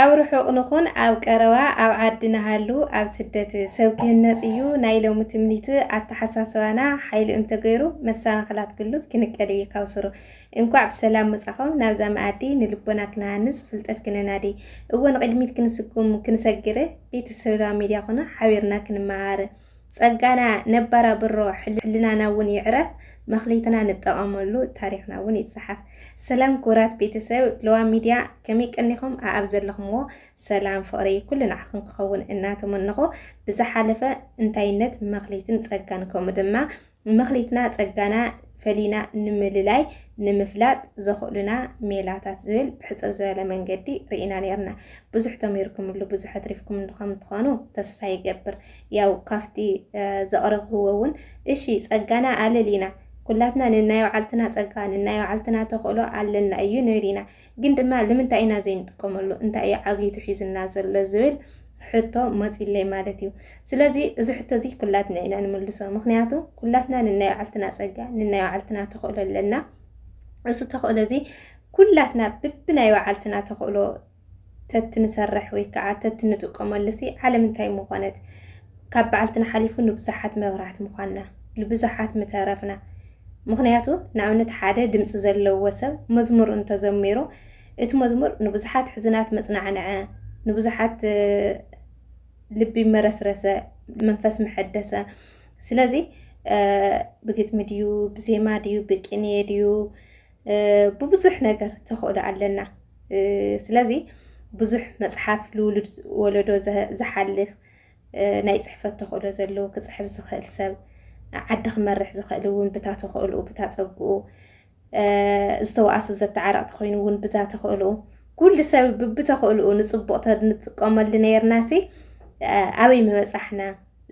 ኣብ ርሑቕ ንኹን ኣብ ቀረባ ኣብ ዓዲ ንሃሉ ኣብ ስደት ሰብ ክህነጽ እዩ ናይ ሎሚ ትምኒት ኣተሓሳስባና ሓይሉ እንተገይሩ መሰናኽላት ኩሉ ክንቀል እዩ ካብ ስሩ እንኳዕ ብሰላም መጻኹም ናብዛ መኣዲ ንልቦና ክንሃንጽ ፍልጠት ክንናዲ እወ ንቕድሚት ክንስጉም ክንሰግር ቤተሰብና ሚድያ ኹኑ ሓቢርና ክንመሃር ጸጋና ነባራብሮ ሕልናና ውን ይዕረፍ መክሊትና ንጠቀመሉ ታሪክና ውን ይጻሓፍ። ሰላም ኩቡራት ቤተሰብ ለዋም ሚድያ ከመይ ቀኒኹም ኣኣብ ዘለኹምዎ ሰላም ፍቅሪ ኩሉ ንዓኹም ክኸውን እናተመነኹ ብዝሓለፈ እንታይነት መክሊትን ጸጋን ከምኡ ድማ መክሊትና ጸጋና ፈሊና ንምልላይ ንምፍላጥ ዘኽእሉና ሜላታት ዝብል ብሕጽር ዝበለ መንገዲ ርኢና ኔርና። ብዙሕ ተሚርኩምሉ ብዙሕ ኣትሪፍኩምሉ ከም ትኾኑ ተስፋ ይገብር። ያው ካብቲ ዘቕረብክዎ እውን እሺ ጸጋና ኣለሊና ኩላትና ንናይ ባዓልትና ጸጋ ንናይ ባዓልትና ተኽእሎ ኣለና እዩ ንብል ኢና። ግን ድማ ልምንታይ ኢና ዘይንጥቀመሉ እንታይ እዩ ዓብሊቱ ሒዙና ዘሎ ዝብል ሕቶ መፂለይ ማለት እዩ። ስለዚ እዚ ሕቶ እዚ ኩላትና ኢና ንምልሶ። ምክንያቱ ኩላትና ንናይ ባዕልትና ፀጋ ንናይ ባዕልትና ተኽእሎ ኣለና። እዚ ተኽእሎ እዚ ኩላትና ብብናይ ባዓልትና ተኽእሎ ተትንሰርሕ ወይ ከዓ ተትንጥቀመሉ ሲ ዓለም እንታይ ምኾነት? ካብ በዓልትና ሓሊፉ ንብዙሓት መብራት ምዃንና ልብዙሓት ምተረፍና ምኽንያቱ ንኣብነት ሓደ ድምፂ ዘለዎ ሰብ መዝሙር እንተዘሚሩ እቲ መዝሙር ንብዙሓት ሕዝናት መፅናዕንዐ ንብዙሓት ልቢ መረስረሰ መንፈስ መሐደሰ ስለዚ ብግጥሚ ድዩ ብዜማ ድዩ ብቅንየ ድዩ ብብዙሕ ነገር ተኽእሎ ኣለና ስለዚ ብዙሕ መፅሓፍ ልውሉድ ወለዶ ዝሓልፍ ናይ ጽሕፈት ተኽእሎ ዘለዎ ክጽሕፍ ዝኽእል ሰብ ዓዲ ክመርሕ ዝኽእል እውን ብታ ተኽእልኡ ብታ ጸግኡ ዝተዋእሱ ዘተዓረቕቲ ኮይኑ እውን ብዛ ተኽእልኡ ኩሉ ሰብ ብብተኽእልኡ ንጽቡቕ ንጥቀመሉ ነርናሲ ኣበይ ምበጻሕና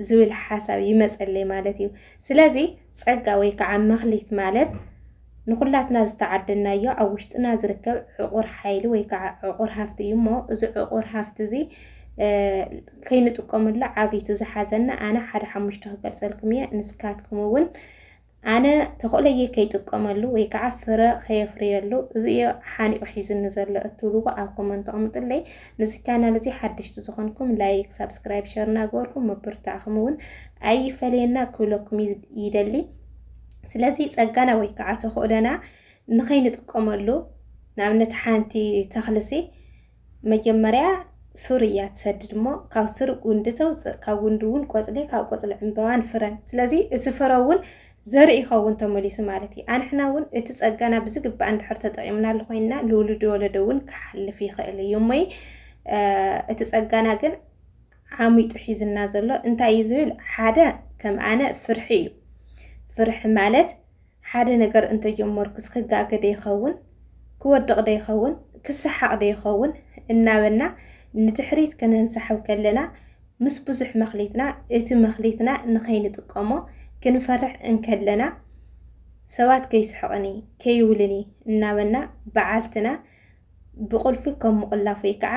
ዝብል ሓሳብ ይመጸለይ ማለት እዩ። ስለዚ ጸጋ ወይ ከዓ መኽሊት ማለት ንኹላትና ዝተዓደናዮ ኣብ ውሽጥና ዝርከብ ዕቑር ሓይሊ ወይ ከዓ ዕቑር ሃፍቲ እዩ እሞ እዚ ዕቑር ሃፍቲ እዚ ከይንጥቀመሉ ዓብይቲ ዝሓዘና ኣነ ሓደ ሓሙሽተ ክገልፀልኩም እየ ንስካትኩም እውን ኣነ ተኽእለየ ከይጥቀመሉ ወይ ከዓ ፍረ ከየፍርየሉ እዚዮ ሓኒቑ ሒዝኒ ዘሎ እትብልዎ ኣብ ኮመንት ኣቕምጥለይ ንዚ ቻናል እዚ ሓድሽቲ ዝኾንኩም ላይክ ሳብስክራይብ ሸር እናገበርኩም ምብርታዕኹም እውን ኣይፈለየና ክብለኩም ይደሊ ስለዚ ጸጋና ወይ ከዓ ተኽእሎና ንኸይንጥቀመሉ ንኣብነት ሓንቲ ተኽልሲ መጀመርያ ሱር እያ ትሰድድ እሞ ካብ ስር ጉንዲ ተውፅእ ካብ ጉንዲ እውን ቆፅሊ ካብ ቆፅሊ ዕምበባን ፍረን ስለዚ እቲ ፍረ እውን ዘርኢ ይኸውን ተመሊሱ ማለት እዩ ኣንሕና እውን እቲ ጸጋና ብዝግባእ እንድሕር ተጠቂምናሉ ኮይና ንውሉድ ወለዶ እውን ክሓልፍ ይኽእል እዩ እሞይ እቲ ጸጋና ግን ዓሚጡ ሒዙና ዘሎ እንታይ እዩ ዝብል ሓደ ከም ኣነ ፍርሒ እዩ ፍርሒ ማለት ሓደ ነገር እንተጀመርኩስ ክጋገ ዶ ይኸውን ክወድቕ ዶ ይኸውን ክሰሓቕ ዶ ይኸውን እናበልና ንድሕሪት ከነንሳሕብ ከለና ምስ ብዙሕ መኽሊትና እቲ መኽሊትና ንኸይንጥቀሞ ክንፈርሕ እንከለና ሰባት ከይስሕቕኒ ከይውልኒ እናበልና በዓልትና ብቁልፊ ከም ምቁላፍ ወይ ከዓ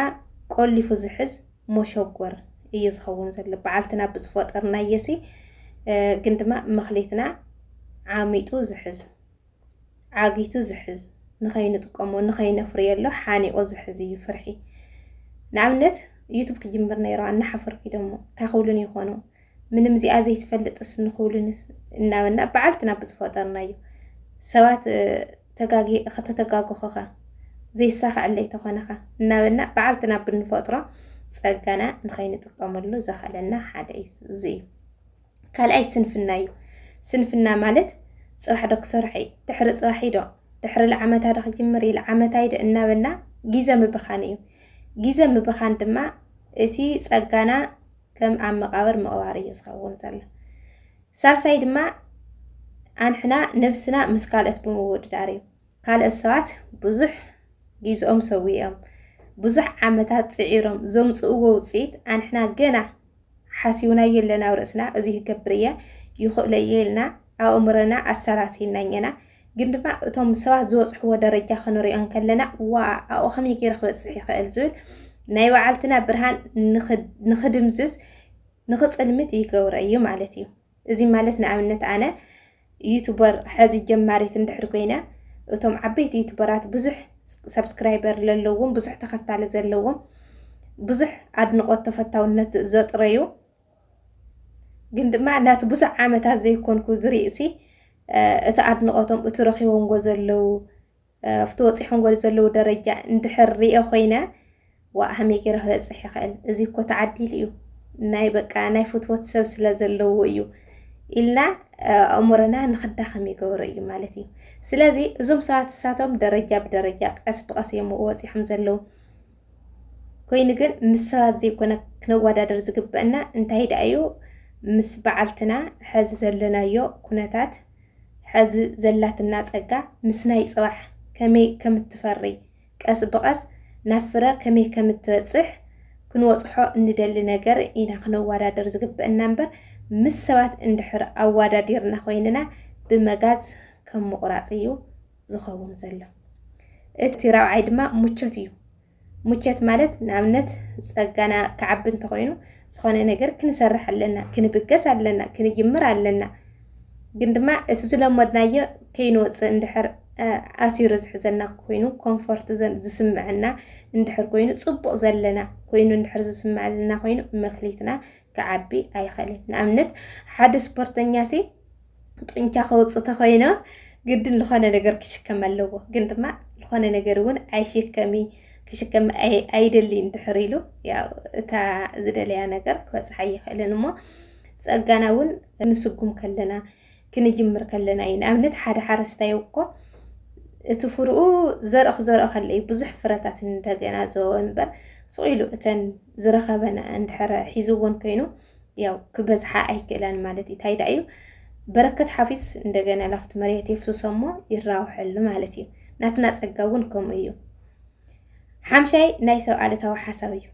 ቆሊፉ ዝሕዝ ሞሾጎር እዩ ዝኸውን ዘሎ በዓልትና ብዝፈጠርናየሲ ግን ድማ መክሊትና ዓሚጡ ዝሕዝ ዓጊቱ ዝሕዝ ንኸይንጥቀሞ ንኸይነፍርየሎ ሓኒቑ ዝሕዝ እዩ ፍርሒ ንኣብነት ዩቱብ ክጅምር ነይረዋ እናሓፈርኩ ደሞ እንታይ ክብሉን ይኾኑ ምንም እዚኣ ዘይትፈልጥስ ንኽብሉንስ እናበልና በዓልትና ብዝፈጠርናዩ ሰባት ከተተጋግኹኻ ዘይሳኸዐለይ ተኾነኻ እናበልና በዓልትና ብንፈጥሮ ጸጋና ንኸይንጥቀመሉ ዘኸለና ሓደ እዩ እዚ እዩ ካልኣይ ስንፍና እዩ ስንፍና ማለት ጽባሕ ዶ ክሰርሐ እዩ ድሕሪ ጽባሕ ዶ ድሕሪ ልዓመታ ዶ ክጅምር እዩ ልዓመታ ዶ እናበልና ግዘ ምብኻን እዩ ግዘ ምብኻን ድማ እቲ ጸጋና ከም ኣብ መቃብር ምቕባር እዩ ዝኸውን ዘሎ። ሳልሳይ ድማ ኣንሕና ነብስና ምስ ካልኦት ብምውድዳር እዩ። ካልኦት ሰባት ብዙሕ ጊዝኦም ሰዊኦም ብዙሕ ዓመታት ጽዒሮም ዘምጽእዎ ውጽኢት ኣንሕና ገና ሓሲውናዮ ኣለና ኣብ ርእስና እዚ ክገብር እየ ይኽእሎ እየ ኢልና ኣእምሮና ኣሰላሲልና እኘና ግን ድማ እቶም ሰባት ዝበፅሕዎ ደረጃ ክንሪኦ እንከለና ዋ ኣብኡ ከመይ ገይረ ክበፅሕ ይኽእል ዝብል ናይ በዓልትና ብርሃን ንኽድምዝዝ ንኽፅልምት ይገብሮ እዩ ማለት እዩ እዚ ማለት ንኣብነት ኣነ ዩቱበር ሕዚ ጀማሪት እንድሕር ኮይነ እቶም ዓበይቲ ዩቱበራት ብዙሕ ሰብስክራይበር ዘለዎም ብዙሕ ተኸታሊ ዘለዎም ብዙሕ ኣድንቆት ተፈታውነት ዘጥረዩ ግን ድማ ናቲ ብዙሕ ዓመታት ዘይኮንኩ ዝርእሲ እቲ ኣድንቆቶም እቲ ረኪቦምዎ ዘለው ኣብቲ ወፂሖምዎ ዘለው ደረጃ እንድሕር ሪኦ ኮይነ ዋእ ሃመይ ገይረ ክበፅሕ ይኽእል እዚ እኮ ተዓዲሉ እዩ ናይ በቃ ናይ ፍትወት ሰብ ስለ ዘለዎ እዩ ኢልና ኣእምሮና ንክዳኸም ይገብሮ እዩ ማለት እዩ። ስለዚ እዞም ሰባት እሳቶም ደረጃ ብደረጃ ቀስ ብቀስ እዮም ወፂሖም ዘለው። ኮይኑ ግን ምስ ሰባት ዘይኮነ ክነወዳደር ዝግበአና እንታይ ደኣ እዩ ምስ በዓልትና ሐዚ ዘለናዮ ኩነታት ሐዚ ዘላትና ፀጋ ምስ ናይ ፅባሕ ከመይ ከም እትፈሪ ቀስ ብቐስ ናብ ፍረ ከመይ ከም እትበፅሕ ክንወፅሖ እንደሊ ነገር ኢና ክነወዳደር ዝግበአና እምበር ምስ ሰባት እንድሕር ኣወዳዲርና ኮይንና ብመጋዝ ከም ምቑራፅ እዩ ዝኸውን ዘሎ። እቲ ራብዓይ ድማ ሙቾት እዩ። ሙቸት ማለት ንኣብነት ጸጋና ክዓቢ እንተኾይኑ ዝኾነ ነገር ክንሰርሕ ኣለና፣ ክንብገስ ኣለና፣ ክንጅምር ኣለና። ግን ድማ እቲ ዝለመድናዮ ከይንወፅእ እንድሕር ኣሲሩ ዝሕዘና ኮይኑ ኮንፎርት ዝስምዐና እንድሕር ኮይኑ ፅቡቕ ዘለና ኮይኑ እንድሕር ዝስምዐልና ኮይኑ መክሊትና ክዓቢ ኣይኸልን። ንኣብነት ሓደ ስፖርተኛ ሲ ጥንቻ ከውፅእ ተኮይነ ግድን ዝኾነ ነገር ክሽከም ኣለዎ ግን ድማ ዝኾነ ነገር እውን ኣይሽከሚ ክሽከም ኣይደልይን ድሕር ኢሉ ያው እታ ዝደለያ ነገር ክበፅሓ ይኽእልን እሞ ፀጋና እውን ንስጉም ከለና ክንጅምር ከለና እዩ ንኣብነት ሓደ ሓረስታይ እኮ እቲ ፍርኡ ዘርኢ ክዘርኦ ከለ እዩ ብዙሕ ፍረታት እንደገና ዘወ እምበር ስቑ ኢሉ እተን ዝረኸበን እንድሕረ ሒዝዎን ኮይኑ ያው ክበዝሓ ኣይክእላን ማለት እዩ ታይ ዳእዩ በረከት ሓፊዝ እንደገና ላፍቲ መሬት የፍስሶሞ ይራውሐሉ ማለት እዩ ናትና ፀጋ እውን ከምኡ እዩ ሓምሻይ ናይ ሰብ ኣለታዊ ሓሳብ እዩ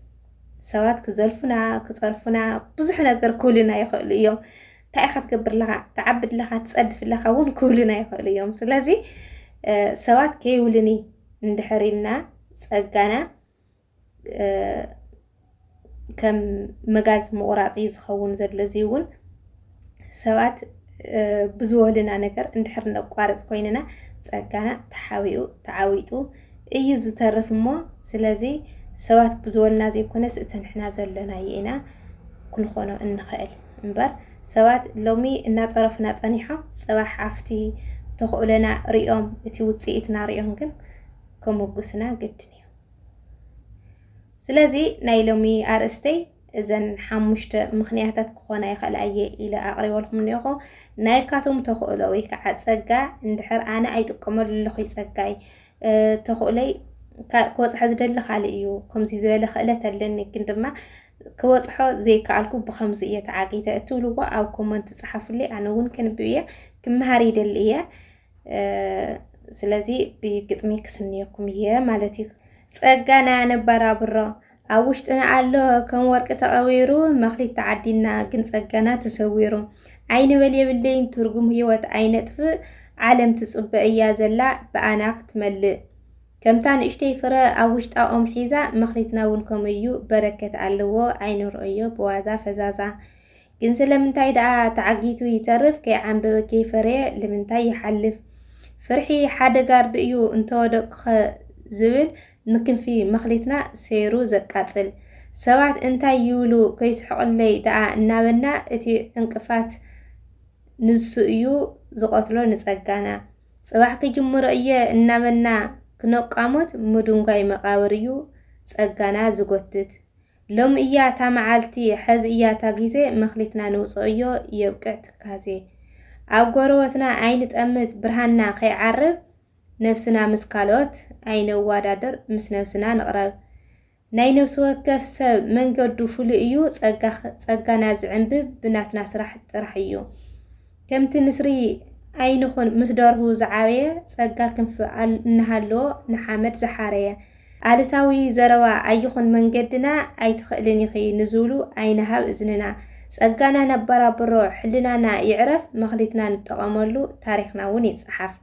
ሰባት ክዘልፉና ክፀርፉና ብዙሕ ነገር ክብሉና ይኽእሉ እዮም እንታይ ኢኻ ትገብር ኣለኻ ትዓቢ ኣለኻ ትፀድፍ ኣለኻ እውን ክብሉና ይኽእሉ እዮም ስለዚ ሰባት ከይብሉኒ እንድሕር ኢልና ፀጋና ከም መጋዝ ምቑራፅ እዩ ዝኸውን ዘሎ እዚ እውን ሰባት ብዝወልና ነገር እንድሕር ነቋርፅ ኮይንና ፀጋና ተሓቢኡ ተዓዊጡ እዩ ዝተርፍ እሞ ስለዚ ሰባት ብዝወልና ዘይኮነስ እቲ ንሕና ዘሎናዩ ኢና ክንኾኖ እንኽእል እምበር ሰባት ሎሚ እናፀረፉና ፀኒሖም ፅባሕ ኣብቲ ተኽእሎና ሪኦም እቲ ውፅኢትና ሪኦም ግን ከመጉስና ግድን እዩ ስለዚ ናይ ሎሚ ኣርእስተይ እዘን ሓሙሽተ ምኽንያታት ክኾና ይኽእላ እየ ኢለ ኣቕሪበልኩም እኒኦኹ ናይ ካቶም ተኽእሎ ወይ ከዓ ፀጋ እንድሕር ኣነ ኣይጥቀመሉ ኣለኹ ፀጋይ ተኽእሎይ ክወፅሖ ዝደሊ ካልእ እዩ ከምዚ ዝበለ ክእለት ኣለኒ ግን ድማ ክወፅሖ ዘይከኣልኩ ብከምዚ እየ ተዓጊተ እትብልዎ ኣብ ኮመንት ፀሓፉለይ ኣነ እውን ክንብብ እየ ክመሃር ይደሊ እየ ስለዚ ብግጥሚ ክስንየኩም እየ ማለት እዩ። ጸጋና ነባራብሮ ኣብ ውሽጥና ኣሎ ከም ወርቂ ተቐቢሩ መኽሊት ተዓዲና ግን ጸጋና ተሰዊሩ ኣይንበል የብለይን ትርጉም ህይወት ኣይነጥፍእ ዓለም ትጽበ እያ ዘላ ብኣና ክትመልእ ከምታ ንእሽተይ ፍረ ኣብ ውሽጣ ኦም ሒዛ መኽሊትና እውን ከምኡ እዩ በረከት ኣለዎ ኣይንርኦዮ ብዋዛ ፈዛዛ ግን ስለምንታይ ደኣ ተዓጊቱ ይተርፍ ከይዓምበበ ከይፈረየ ልምንታይ ይሓልፍ ፍርሒ ሓደ ጋርድ እዩ እንተወደቅኩኸ ዝብል ንክንፊ መኽሊትና ሰይሩ ዘቃጽል ሰባት እንታይ ይብሉ ከይስሕቕለይ ደኣ እናበልና እቲ ዕንቅፋት ንሱ እዩ ዝቐትሎ ንጸጋና ጽባሕ ክጅምሮ እየ እናበልና ክነቋሙት ምዱንጓይ መቓብር እዩ ጸጋና ዝጎትት ሎሚ እያ እታ መዓልቲ ሐዚ እያ እታ ጊዜ መክሊትና ንውፀኦዮ የብቅዕ ትካዜ ኣብ ጎረወትና ኣይንጠምት ብርሃንና ከይዓርብ ነብስና ምስ ካልኦት ኣይነዋዳድር ምስ ነብስና ንቅረብ ናይ ነብስወከፍ ሰብ መንገዱ ፍሉይ እዩ ፀጋ ፀጋና ዝዕንብብ ብናትና ስራሕ ጥራሕ እዩ ከምቲ ንስሪ ኣይንኹን ምስ ደርሁ ዝዓበየ፣ ጸጋ ክንፊ እናሃለዎ ንሓመድ ዝሓረየ። ኣሉታዊ ዘረባ ኣይኹን መንገድና፣ ኣይትኽእልን ኢኺ ንዝብሉ ኣይንሃብ እዝንና። ጸጋና ነበራብሮ፣ ሕልናና ይዕረፍ፣ መኽሊትና ንጠቐመሉ፣ ታሪኽና'ውን ይጸሓፍ።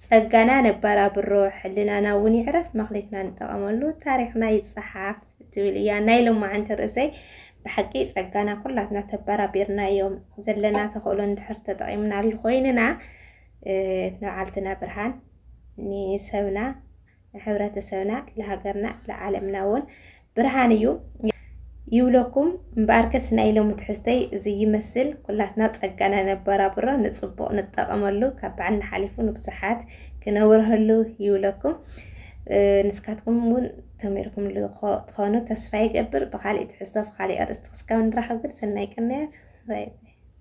ጸጋና ነባራብሮ ሕልናና ውን ይዕረፍ መክሊትና ንጠቀመሉ ታሪክና ይጸሓፍ ትብል እያ ናይ ሎማዓንቲ ርእሰይ ብሓቂ ጸጋና ኩላትና ተባራቢርናዮ ዘለና ተኽእሎ እንድሕር ተጠቂምናሉ ኮይንና ንዓልትና ብርሃን ንሰብና ንሕብረተሰብና ንሃገርና ንዓለምና እውን ብርሃን እዩ ይብለኩም እምበኣርከስ ናይ ሎሚ ትሕዝተይ እዚ ይመስል ኩላትና ጸጋና ነበራብሮ ንጽቡቕ ንጠቐመሉ ካብ ባዕልና ሓሊፉ ንብዙሓት ክነብርሀሉ ይብለኩም ንስካትኩም እውን ተመርኩም ትኾኑ ተስፋ ይገብር ብካሊእ ትሕዝቶ ብካሊእ ኣርእስቲ ክስካብ ንራኸብ ግን ሰናይ ቅንያት ባይ ባይ